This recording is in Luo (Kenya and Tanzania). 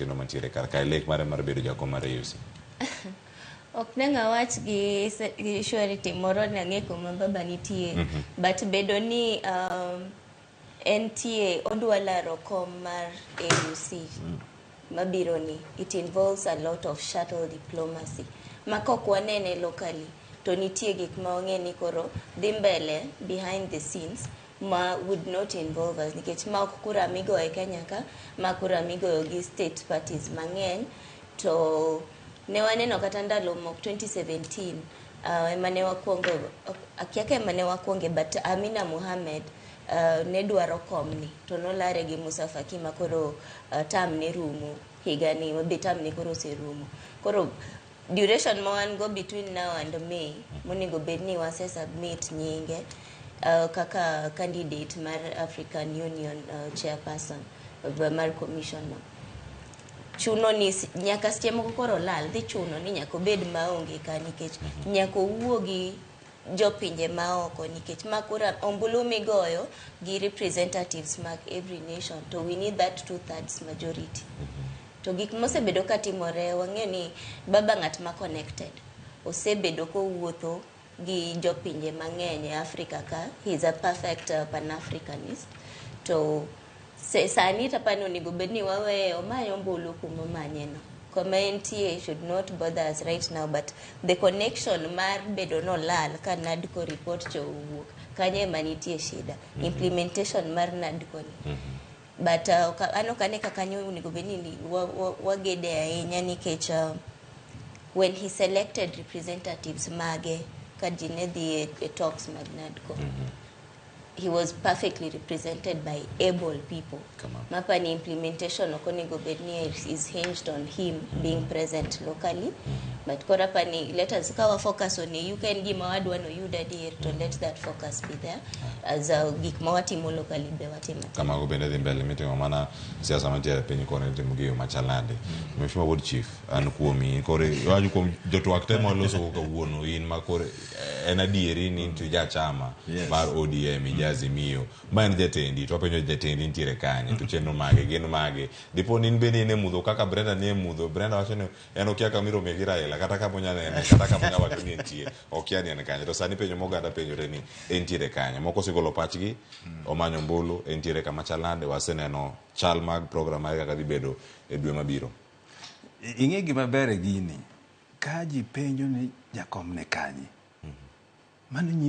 kendo mantiere kar kae lek mare mar bedo jakom mar AUC. ok ne ng'a wach gi se- gi surety moro ne ang'e kuma baba nitie but bedo ni um, entie odwa laro kom mar AUC mabiro ni it involves a lot of shuttle diplomacy ma kok wanene locally to nitie gik ma wang'e ni koro dhi mbele behind the scenes ma would not involve us nikech ma ok kura migo e Kenya ka ma kura migoyo gi state parties mang'eny to ne waneno kata ndalo mok 2017 uh, ema ne wakwongo akia ka ema ne wakwonge but Amina Mohamed uh, ne dwaro komni to nolare gi Musa Faki ma koro uh, tam ne rumo higani be tam ne koro oserumo koro duration ma wan go between now and May monego bed ni wase submit nyinge uh, kaka candidate mar African Union uh, chairperson uh, mar commission no. chuno ni s- nyaka seche moko koro lal dhi chuno ni nyaka obed maonge ka nikech nyaka owuogi jo pinje maoko nikech ma kura ombulu migoyo gi representatives mag every nation to we need that two thirds majority to gik mosebedo ka timore wang'eyo ni baba ng'at ma connected osebedo kowuotho gi jopinje mang'eny e africa ka he is a perfect uh, pan africanist to Se sani to apani onego bed ni waweye omany ombulu kuma omanye no. Koma entie it should not bother us right now but the connection mar bedo no lal ka NADCO report cho owuok kanyo ema nitie shida implementation mar NADCO ni. But uh, oka- an ok ane ka kanyo onego bed ni ni- wa- wa- wagede ahinya nikech uh, when he selected representatives mage ka ji ne dhi e, e talks mag NADCO. he was perfectly represented by able people mapa ni implementation ok onego bed ni is hinged on him mm. being present locally but koro apa ni let us kawa focus on you can gima wadwa no yuda dear to let that focus be there as a gik ma watimo locally be watimo kama go bende dhi mbele mitimo mana siasa mantiere piny koro itimo gi yo machalande mm. mheshimiwa ward chief an kuomi koro waju kuom jotwak temo loso kawuono in ma koro en adieri ni nitie jachama Yes. mar odm ija azimio ma en jatendi to wapenjo jatendi nitiere kanye to chenro mage gin mage dipo ni in bende in e mudho kaka brenda ni e mudho brenda wacho ni en okia kama iromie gi raila kata kama onya nene kata kama onya wacho ni entie okia ni en kanye to sani penjo moganda penjore ni entiere kanye moko osegolo pachgi omanyo mbulu entiere kama chal nade waseneno chal mag program mage kaka dhi bedo e dwe mabiro ing'e gima ber e gini Ka ji penjo ni Jakom ne kanye, mano nyiso.